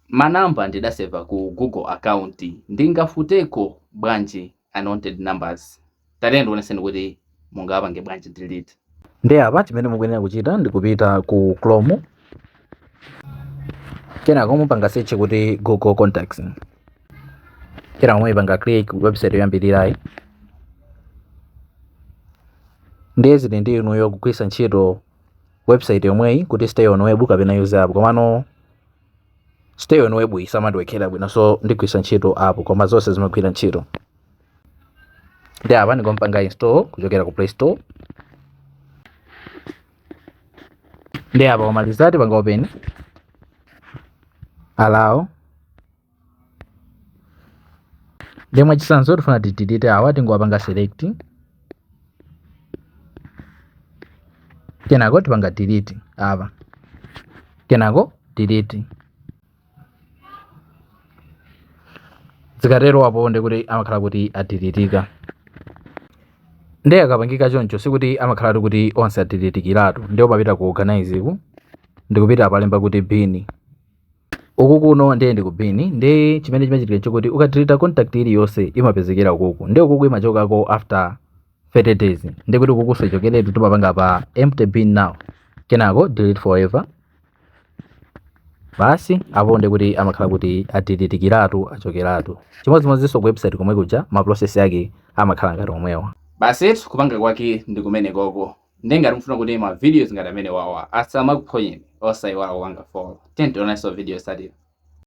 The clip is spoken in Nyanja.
Ma number ndidaseva ku Google account ndingafufuteko bwanji unwanted numbers? Tatiyeni tikuoneseni kuti mungawapange bwanji delete. Ndiye apa chimene mukuyenera kuchita ndi kupita ku Chrome kenako mupanga search kuti Google Contacts kenako muipanga click website yoyambirirayi ndiye zili ndi inuyo kugwiritsa ntchito website yomweyi kuti stay on web kapena use app komano stay on web simandiwekhera bwino so ndigwisa ntchito app koma zonse zimagwira ntchito ndiye apa ndingopanga install kuchokera ku play store ndiye apa ikamaliza tipanga open allow Ndiye mwachitsanzo tifuna tidilite awa tingowapanga select. Kenako tipanga delete apa. Kenako delete. Zikatero apo ndi kuti amakhala kuti adilitika. Ndiye akapangika choncho sikuti amakhala kuti onse adilitikiratu. Ndiye umapita ku organizeku ndikupita apalemba kuti bin. uku kuno ndiye ndi ku bin ndiye chimene chimachitika nchakuti ukadeleta contact iliyonse imapezekera ukuku ndiye ukuku imachokako after 30 days ndiye kuti ukukuso achokeretu timapanga pa empty bin now kenako delete forever basi apo ndiye kuti amakhala kuti adeletikiratu achokeratu chimodzimodzinso ku website komwe kuja ma process yake amakhala ngati omwewa basi kupanga kwake ndi kumenekoko nde ngati mufuna kuti ma videos ngati amenewawa asamakuphonyeni osaiwala kupanga follow tiye tionanenso video yotsatira